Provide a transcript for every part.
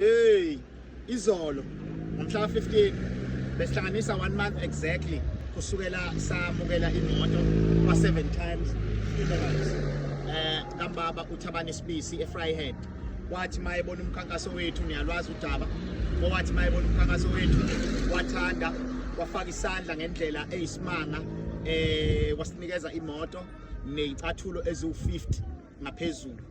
Hey, izolo ngomhla 15 besihlanganisa one month exactly kusukela samukela imoto kwa seven times inelands eh kambaba uthabani sibisi efryhead wathi mayebona umkhankaso wethu niyalwazi udaba owathi mayebona umkhankaso wethu wathanda wafaka isandla ngendlela eyisimanga eh wasinikeza imoto nezicathulo eziwu50 ngaphezulu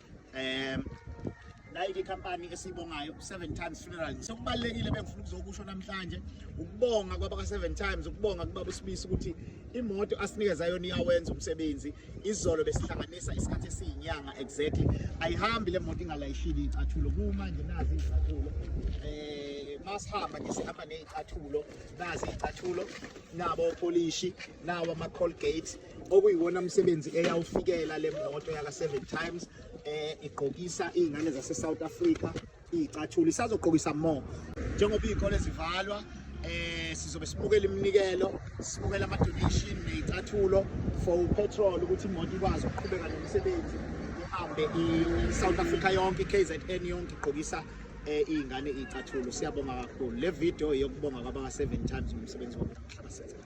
um like ikhampani esiyibongayo seven times funeral sekubalulekile bengifuna ukuzokusho namhlanje ukubonga kwabaka-seven times ukubonga kubaba usibisi ukuthi imoto asinikeza yona iyawenza umsebenzi izolo besihlanganisa isikhathi esiyinyanga exactly ayihambi le moto ingalayishile iyicathulo kumanje nazi iyicathulo um masihamba nje sihamba neyicathulo nazi iyicathulo nabo opolishi nawo ama-colgate okuyiwona msebenzi eyawufikela le moto yaka Seven Times eh igqokisa izingane zase South Africa icathula isazogqokisa more njengoba izikole zivalwa eh sizobe sibukela iminikelo sibukela ama donation nezicathulo for petrol ukuthi imoto ikwazi ukuqhubeka nomsebenzi ihambe i South Africa yonke KZN yonke igqokisa eh izingane izicathulo siyabonga kakhulu le video yokubonga kwabaka 7 times ngomsebenzi wabo